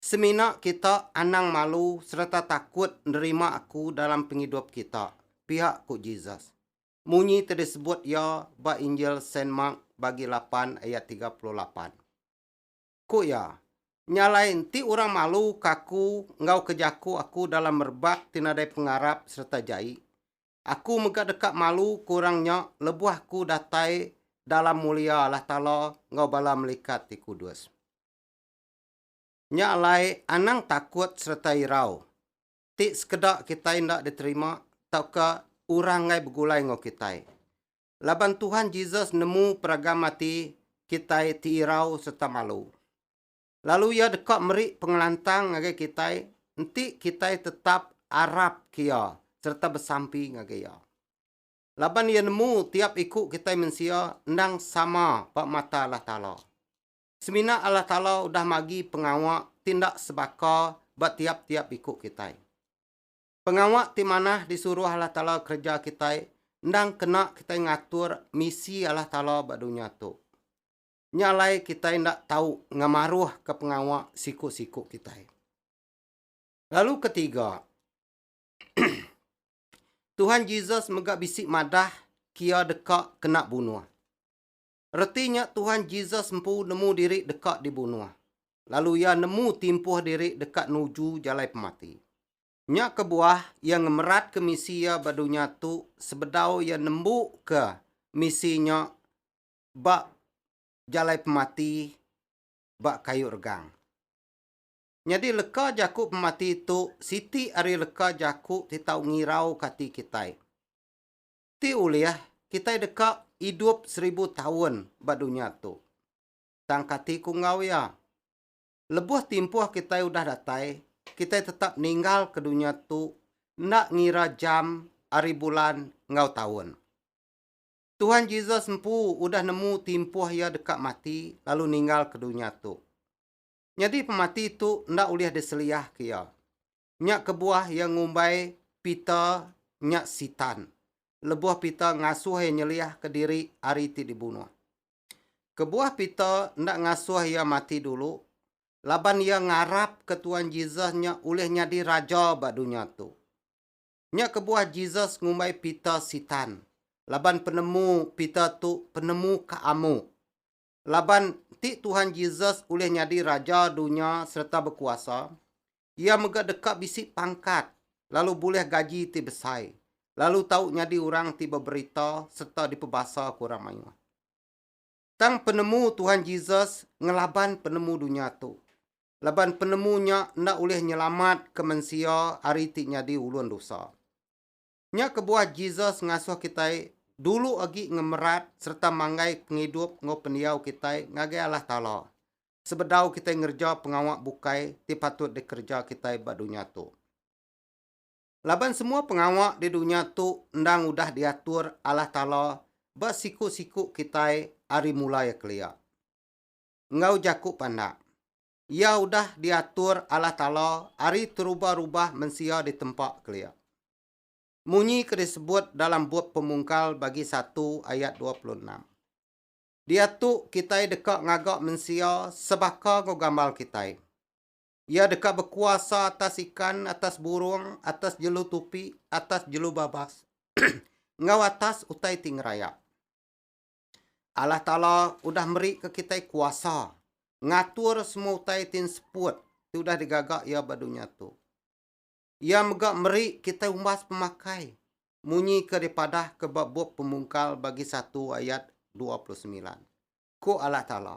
Semina kita anang malu sereta takut nerima Aku dalam pengidup kita, pia ku Jesus, munyi ti disebut Iya ba Injil Saint Mark Bagi lapan ayat tiga puluh lapan. Ku iya, Nya alai enti orang maluka Aku enggau ke jaku Aku dalam merebak ti nadai pengarap sereta jai, Aku mega deka malu ku orang nya lebuh ku datai dalam mulia Allah Taala enggau bala melikat ti kudus. Nya alai anang takut sereta irau ti sekeda kitai enda diterima tauka orang enggai begulai enggau kitai. Laban Tuhan Jesus nemu peragam ati kitai ti irau sereta malu. lalu iya deka meri pengelantang ngagai kitai enti kitai tetap arapka iya sereta besampi ngagai iya. Laban iya nemu tiap iku kitai mensia endang sama ba mata Allah Taala. Semina Allah Taala udah magi pengawa ti enda sebaka ba tiap-tiap iku kitai. Pengawa ti manah disuruh Allah Taala kereja kitai endang kena kitai ngatur misi Allah Taala ba dunya tu. Nya alai kitai enda tau ngemaruhka pengawa siku-siku kitai. Lalu ketiga, Tuhan Jesus mega bisi madah kia deka kena bunuh. Reti nya Tuhan Jesus empu nemu diri deka dibunuh, lalu iya nemu timpuh diri deka nuju jalai pemati. Nya kebuah iya ngemeratka misi iya ba dunya tu sebedau iya nembuka misi nya ba jalai pemati ba kayu regang. Nyadi leka jaku pemati tu siti ari leka jaku ti tau ngirauka ati kitai. Ti ulih kitai deka idup seribu taun ba dunya tu. Tang kati ku enggau iya? Lebuh timpuh kitai udah datai, kitai tetap ninggalka dunya tu enda ngira jam ari bulan enggau taun. Tuhan Jesus empu udah nemu timpuh iya deka mati lalu ninggalka dunya tu. Nyadi pemati tu enda ulih diseliahka iya. Nya kebuah iya ngumbai Peter nya Sitan lebuh Peter ngasuh iya nyeliahka diri ari ti dibunuh. Kebuah Peter enda ngasuh iya mati dulu laban iya ngarapka Tuhan Jesus nya ulih nyadi raja ba dunya tu. Nya kebuah Jesus ngumbai Peter Sitan, laban penemu Peter tu penemu ke amu. Laban enti Tuhan Jesus ulih nyadi raja dunya sereta bekuasa, iya mega deka bisi pangkat lalu bulih gaji ti besai, lalu tau nyadi orang ti beberita sereta dipebasa ke orang mayuh. Tang penemu Tuhan Jesus ngelaban penemu dunya tu. Laban penemu nya enda ulih nyelamatka mensia ari ti nyadi ulun dosa. Nya kebuah Jesus ngasuh kitai dulu agi ngemerat sereta manggai pengidup enggau pendiau kitai ngagai Allah Taala sebedau kitai ngereja pengawa bukai ti patut dikereja kitai ba dunya tu. laban semua pengawa di dunya tu endang udah diatur Allah Taala ba siku-siku kitai ari mula iya kelia. Enggau jaku pandak, iya udah diatur Allah Taala ari terubah-rubah mensia di tempa kelia. Munyi ke disebut dalam bup Pemungkal bagi satu ayat dua puluh enam. Diatu kitai deka ngaga mensia sebaka enggau gambar kitai. Iya deka bekuasa atas ikan, atas burung, atas jelu tupi, atas jelu babas, enggau atas utai ti ngerayap. Allah Taala udah merika kitai kuasa ngatur semua utai ti enseput ti udah digaga Iya ba dunya tu. Iya mega meri kitai umbas pemakai, munyi ke dipadahka ba bup Pemungkal bagi satu ayat dua puluh semilan. Ku Allah Taala,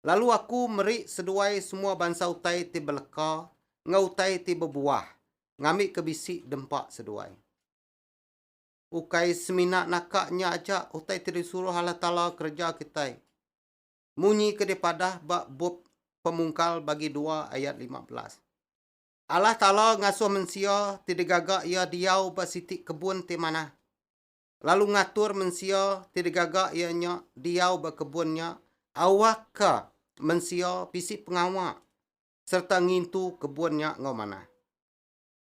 Lalu Aku meri seduai semua bansa utai ti beleka enggau utai ti bebuah ngambika bisi dempa seduai. Ukai semina naka nya aja utai ti disuruh Allah Taala kereja kitai. Munyi ke dipadah ba bup Pemungkal bagi dua ayat lima belas. Allah Taala ngasuh mensia ti digaga Iya diau ba siti kebun ti manah. lalu ngatur mensia ti digaga iya nya diau ba kebun nya awakka mensia bisi pengawa sereta ngintu kebun nya enggau manah.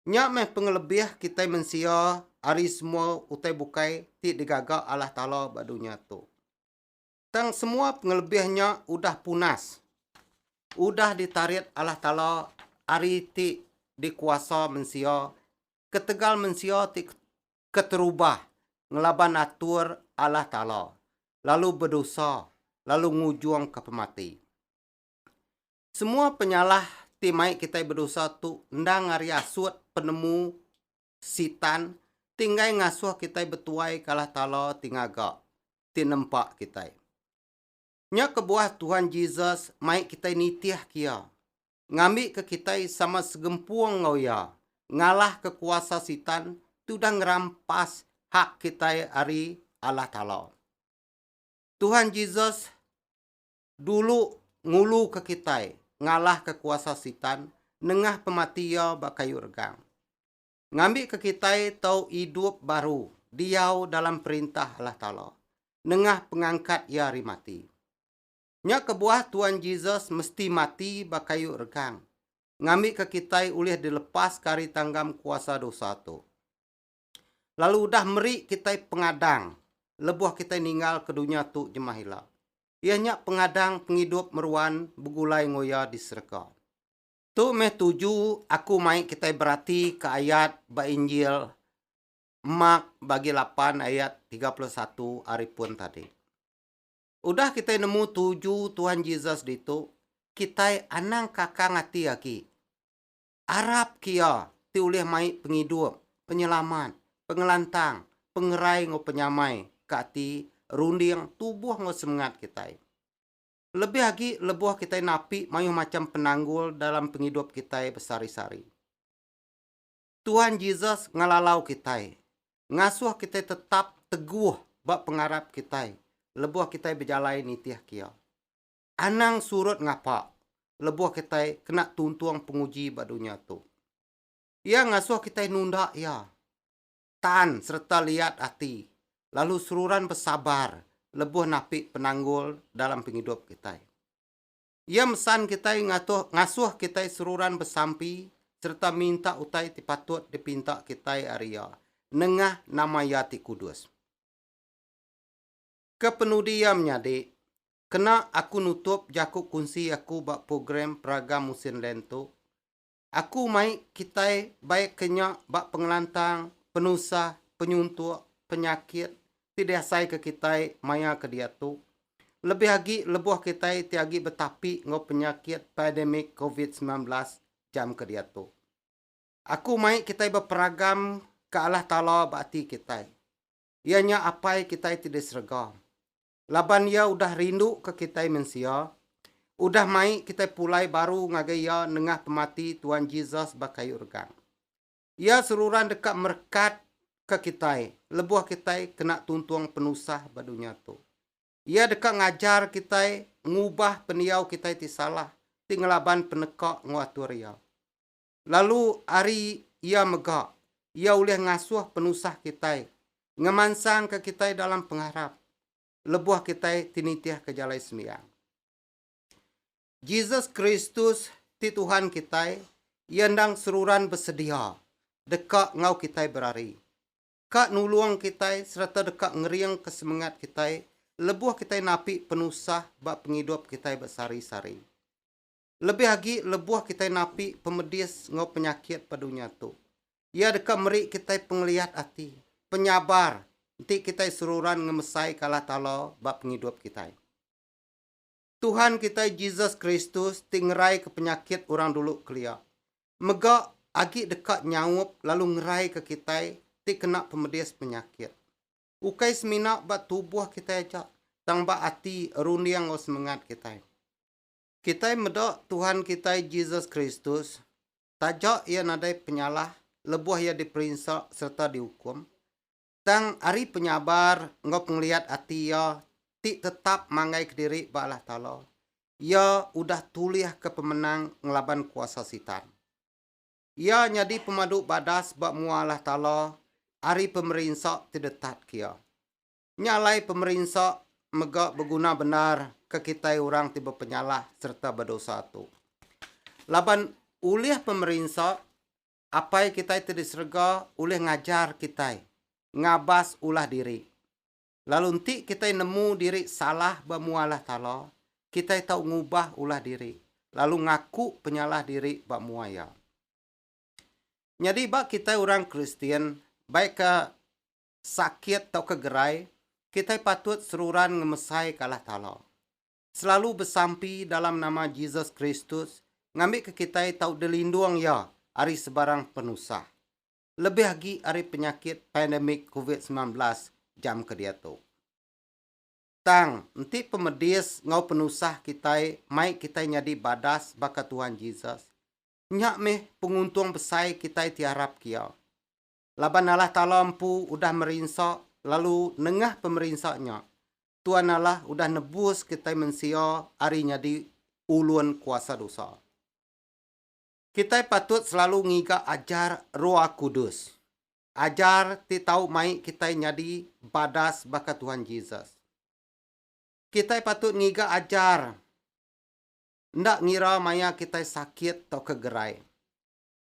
Nya meh pengelebih kitai mensia ari semua utai bukai ti digaga Allah Taala ba dunya tu. Tang semua pengelebih nya udah punas, udah ditarit Allah Taala ari ti dikuasa mensia ketegal mensia ti keterubah ngelaban atur Allah Taala, lalu bedosa, lalu ngujungka pemati. Semua penyalah ti mai kitai bedosa tu endang ari asut penemu Sitan ti enggai ngasuh kitai betuaika Allah Taala ti ngaga, ti nempa kitai. Nya kebuah Tuhan Jesus mai kitai nitihka iya, ngambika kitai sama segempung enggau iya ngalahka kuasa Sitan tudah ngerampas hak kitai ari Allah Taala. Tuhan Jesus dulu nguluka kitai ngalahka kuasa Sitan nengah pemati iya ba kayu regang. ngambika kitai tau idup baru diau dalam Perintah Allah Taala nengah pengangkat Iya ari mati. Nya kebuah Tuan Jesus mesti mati ba kayu regang ngambika kitai ulih dilepaska ari tanggam kuasa dosa tu, lalu udah meri kitai pengadang lebuh kitai ninggalka dunya tu jemah ila, iya nya pengadang pengidup meruan begulai enggau Iya di serega. Tu meh tuju aku mai kitai beratika ayat ba Injil Mark bagi lapan ayat tiga puluh satu ari pun tadi. Udah kitai nemu tuju Tuhan Jesus ditu, kitai anang kakang ati agi. Arap ke Iya ti ulih mai Pengidup, Penyelamat, Pengelantang, Pengerai enggau Penyamai ke ati, runding, tubuh enggau semengat kitai. lebih agi lebuh kitai napi mayuh macham penanggul dalam pengidup kitai besehari-sehari. Tuhan Jesus ngelalau kitai, ngasuh kitai tetap teguh ba pengarap kitai lebuh kitai bejalai nitih Iya. Anang surut ngapa lebuh kitai kena tuntung penguji ba dunya tu. Iya ngasuh kitai nunda Iya. tan sereta liat ati, lalu seruran besabar lebuh napi penanggul dalam pengidup kitai. Iya mesan kitai ngatuh ngasuh kitai seruran besampi sereta minta utai ti patut dipinta kitai ari Iya nengah nama Iya ti kudus. Kepenudi iya menyadi, kena aku nutup jaku kunsi aku ba program Peraga Musin Lent tu, Aku mai kitai bai ke nya ba pengelantang, penusah, penyuntuk, penyakit ti diasaika kitai maya ke diatu, lebih agi lebuh kitai ti agi betapi enggau penyakit pandemik Covid semilan belas jam ke diatu. Aku mai kitai beperagam ke Allah Taala ba ati kitai, iya nya Apai kitai ti di serega. laban Iya udah rinduka kitai mensia, udah mai kitai pulai baru ngagai Iya nengah pemati Tuan Jesus ba kayu regang. Iya seruran deka merekatka kitai lebuh kitai kena tuntung penusah ba dunya tu. Iya deka ngajar kitai ngubah pendiau kitai ti salah ti ngelaban peneka enggau atur Iya. Lalu ari Iya mega, Iya ulih ngasuh penusah kitai, ngemansangka kitai dalam pengarap, lebuh kitai ti nitihka jalai sembiang. Jesus Kristus ti Tuhan kitai, Iya endang seruran besedia deka enggau kitai berari, ka nulung kitai sereta deka ngeringka semengat kitai lebuh kitai napi penusah ba pengidup kitai besehari-sehari. lebih agi lebuh kitai napi pemedis enggau penyakit ba dunya tu. Iya deka meri kitai pengeliat ati, penyabar enti kitai seruran ngemesaika Allah Taala ba pengidup kitai. Tuhan kitai Jesus Kristus ti ngeraika penyakit orang dulu kelia, mega agi deka nyaup lalu ngeraika kitai ti kena pemedis penyakit. Ukai semina ba tubuh kitai aja, tang ba ati, runding enggau semengat kitai. Kitai meda Tuhan kitai Jesus Kristus, taja iya nadai penyalah lebuh iya diperinsa sereta diukum, tang ari penyabar enggau pengeliat ati iya ti tetap manggaika diri ba Allah Taala, iya udah tulihka pemenang ngelaban kuasa Sitan. Iya nyadi pemadu badas ba mua Allah Taala ari pemerinsa ti detat ke iya. Nya alai pemerinsa mega beguna bendar ke kitai orang ti bepenyalah sereta bedosa tu. Laban ulih pemerinsa, Apai kitai ti di serega ulih ngajar kitai ngabas ulah diri. Lalu enti kitai nemu diri salah ba mua Allah Taala, kitai tau ngubah ulah diri lalu ngaku penyalah diri ba mua Iya. Nyadi ba kitai orang Kristian, baikka sakit tauka gerai, kitai patut seruran ngemesai ke Allah Taala. Selalu besampi dalam nama Jesus Kristus ngambika kitai tau dilindung Iya ari sebarang penusah, lebih agi ari penyakit pandemik Covid semilan belas jam ke diatu. Tang, enti pemedis enggau penusah kitai mai kitai nyadi badas baka Tuhan Jesus, nya meh penguntung besai kitai ti arapka Iya. Laban Allah Taala empu udah merinsa lalu nengah pemerinsa nya, Tuan Allah udah nebus kitai mensia ari nyadi ulun kuasa dosa. Kitai patut selalu ngiga ajar Roh Kudus, ajar ti tau mai kitai nyadi badas baka Tuhan Jesus. Kitai patut ngiga ajar enda ngira maya kitai sakit tauka gerai.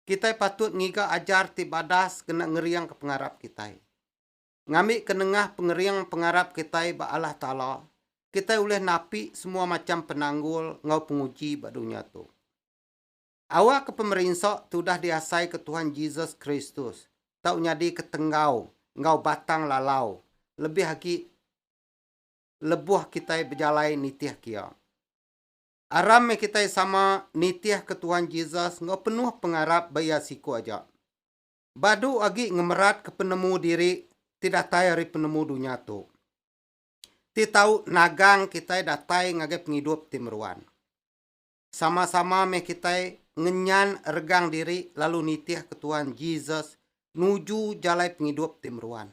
kitai patut ngiga ajar ti badas kena ngeringka pengarap kitai. Ngambika nengah pengering pengarap kitai ba Allah Taala, kitai ulih napi semua macham penanggul enggau penguji ba dunya tu. Awakka pemerinsa ti udah diasaika Tuhan Jesus Kristus tau nyadika tenggau enggau batang lalau lebih agi lebuh kitai bejalai nitihka iya. Aram meh kitai sama nitihka Tuhan Jesus enggau penuh pengarap ba Iya siku aja. Badu agi ngemeratka penemu diri ti datai ari penemu dunya tu, ti tau nagang kitai datai ngagai pengidup ti meruan. Sama-sama meh kitai ngenyan regang diri lalu nitihka Tuhan Jesus nuju jalai pengidup ti meruan.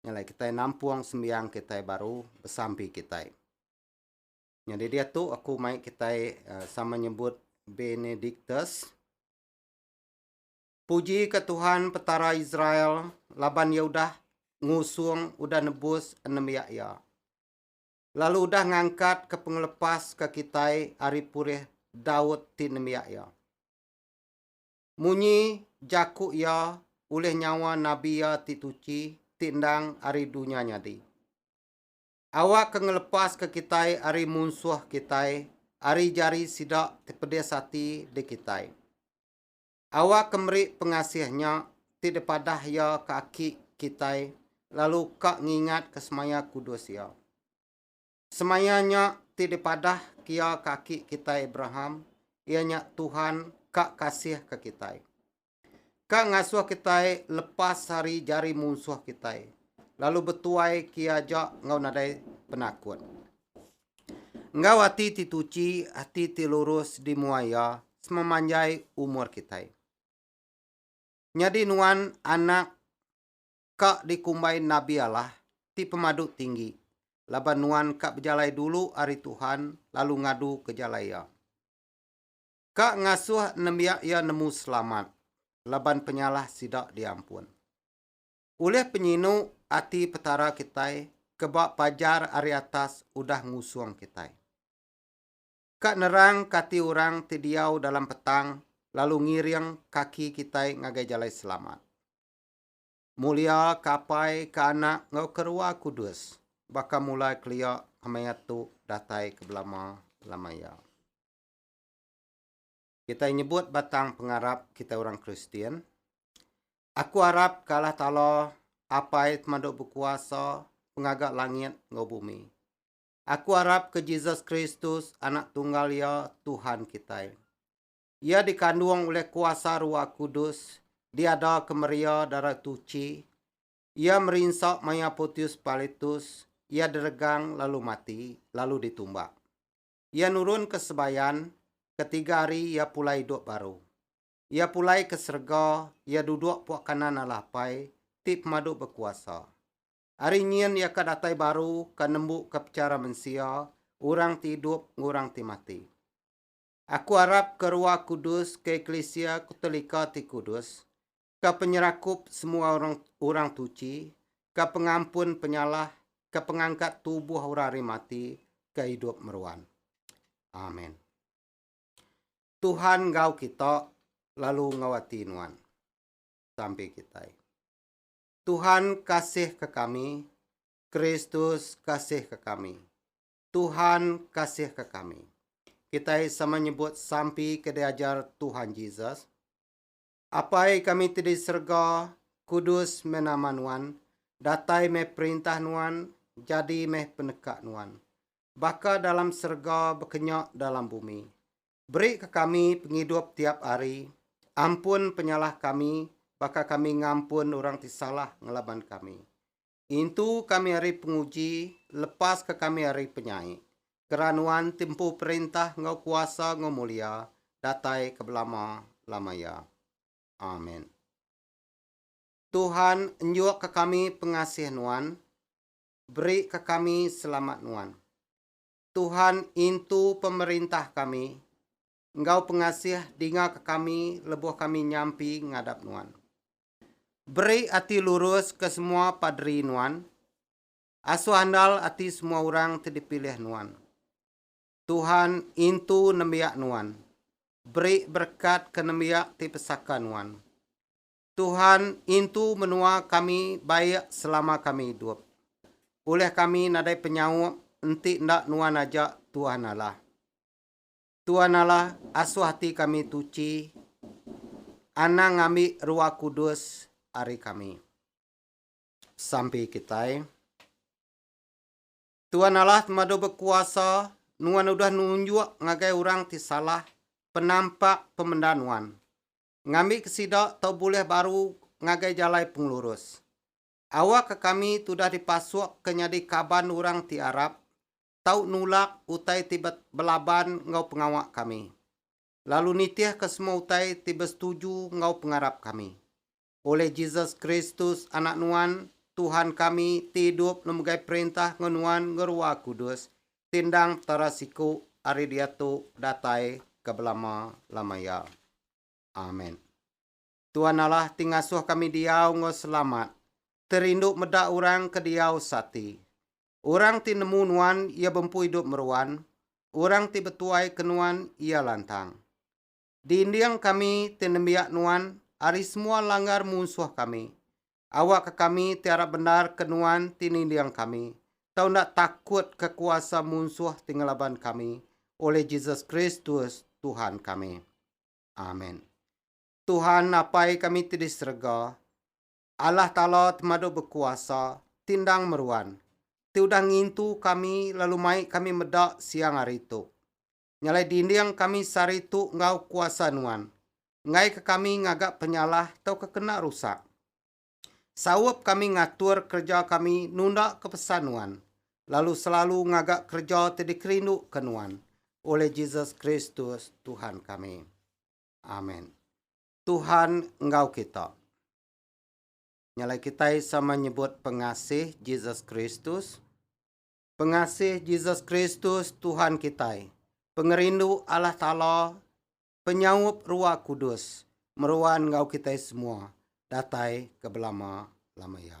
nyalai kitai nampung sembiang kitai baru besampi kitai. Nyadi diatu aku mai kitai eh, sama nyebut Benedictus. Puji ke Tuhan Petara Israel laban ia udah ngusung udah nebus enemiak ia. Lalu udah ngangkat ke pengelepas ke kitai ari purih Daud ti nemiak ia. Munyi jaku iya ulih nyawa nabi iya ti tuchi ti endang ari dunya nyadi. Awak ke ngelepaska kitai ari munsuh kitai ari jari sida ti pedis ati di kitai. Awak ke meri pengasih nya ti dipadah iya ke aki kitai lalu ka ngingatka semaya kudus iya. Semaya nya ti dipadah kia ke aki kitai Abraham, iya nya Tuhan ka kasihka kitai. Ka ngasuh kitai lepas ari jari munsuh kitai, lalu betuai kia aja enggau nadai penakut. Enggau ati ti tuchi, ati ti lurus di mua Iya sememanjai umur kitai. Nyadi nuan anak ka dikumbai Nabi Allah ti pemadu tinggi, laban nuan ka bejalai dulu ari Tuhan lalu ngadu ke jalai Iya. Ka ngasuh nembiak iya nemu selamat, laban penyalah sida diampun. Ulih penyinu ati Petara kitai ke ba pajar ari atas udah ngusung kitai. Ka nerang ke ati orang ti diau dalam petang lalu ngiring kaki kitai ngagai jalai selamat. Mulia ke Apai, ke Anak, enggau ke Rua Kudus, baka mulai kelia, kemaya tu, datai ke belama lama iya. Kitai nyebut batang pengarap kitai orang Kristian, Aku arap ke Allah Taala, Apai Temadu Bekuasa, Pengaga langit enggau bumi. Aku arap ke Jesus Kristus, Anak Tunggal Iya, Tuhan kitai. Iya dikandung ulih kuasa Ruah Kudus, diada kemeria Darah Tuchi. Iya merinsa maya Pontius Pilatus, iya diregang lalu mati, lalu ditumbak. Iya nurun ke sebayan, ketiga hari iya pulai idup baru. Iya pulai ke serega, iya duduk puak kanan Allah Apai, ti pemadu bekuasa. Ari nyin iya ka datai baru ka nembuka pechara mensia, orang ti idup enggau orang ti mati. Aku arap ke Rua Kudus ke eklisia Kutolika ti kudus, ke penyerakup semua orang orang tuchi, ke pengampun penyalah, ke pengangkat tubuh orang ari mati, ke idup meruan. Amen. Tuhan enggau kita, lalu enggau ati nuan. Sampi kitai. Tuhan kasihka kami, Kristus kasihka kami. Tuhan kasihka kami. Kitai sama nyebut sampi ke diajar Tuhan Jesus, Apai kami ti di serega, kudus meh nama nuan, datai meh perintah nuan, jadi meh peneka nuan, baka dalam serega bekenya dalam bumi. Berika kami pengidup tiap hari, ampun penyalah kami baka kami ngampun orang ti salah ngelaban kami. Intu kami ari penguji, lepaska kami ari penyai. Kera nuan ti empu perintah enggau kuasa enggau mulia, datai ke belama-lama iya. Amen. Tuhan, enjukka kami pengasih Nuan, berika kami selamat Nuan. Tuhan, intu pemerintah kami, enggau pengasih dingaka kami lebuh kami nyampi ngadap Nuan. Beri ati lurus ke semua paderi nuan, asuh andal ati semua orang ti dipilih nuan. Tuhan intu nembiak nuan, beri berekat ke nembiak ti besaka nuan. Tuhan intu menua kami baik selama kami idup. Ulih kami nadai penyaup enti enda nuan aja Tuhan Allah. Tuan Allah, asuh ati kami tuchi, anang ngambi Ruah Kudus ari kami. Sampi kitai. Tuan Allah temadu bekuasa, Nuan udah nunjuk ngagai orang ti salah penampak pemenda Nuan, ngambika sida tau bulih baru ngagai jalai pengelurus. Awakka kami tudah dipasukka nyadi kaban orang ti arap, tau nulak utai ti be belaban enggau pengawa kami, lalu nitihka semua utai ti besetuju enggau pengarap kami. Ulih Jesus Kristus, Anak Nuan, Tuhan kami, ti idup lalu megai perintah enggau Nuan enggau Rua Kudus, ti endang Petara siku ari diatu datai ke belama-lama iya. Amen. Tuan Allah ti ngasuh kami diau enggau selamat, terindu meda orang ke diau seati. Orang ti nemu nuan iya bempu idup meruan, orang ti betuai ke nuan iya lantang. Dinding kami ti nembiak nuan ari semua langgar munsuh kami. Awakka kami ti arap bendar ke nuan ti ninding kami, tau enda takut ke kuasa munsuh ti ngelaban kami, oleh Jesus Kristus, Tuhan kami. Amen. Tuhan Apai kami ti di serega, Allah Taala Temadu Bekuasa, ti endang meruan, ti udah ngintu kami lalu mai kami meda siang hari tu. Nyalai dinding kami sehari tu enggau kuasa Nuan, enggaika kami ngaga penyalah tauka kena rusak. Saup kami ngatur kereja kami nundaka pesan Nuan, lalu selalu ngaga kereja ti dikerinduka Nuan, oleh Jesus Kristus, Tuhan kami. Amen. Tuhan enggau kita. Nya alai kitai sama nyebut pengasih Jesus Kristus. Pengasih Jesus Kristus Tuhan kitai, pengerindu Allah Taala, penyaup Ruah Kudus meruan enggau kitai semua datai ke belama-lama iya.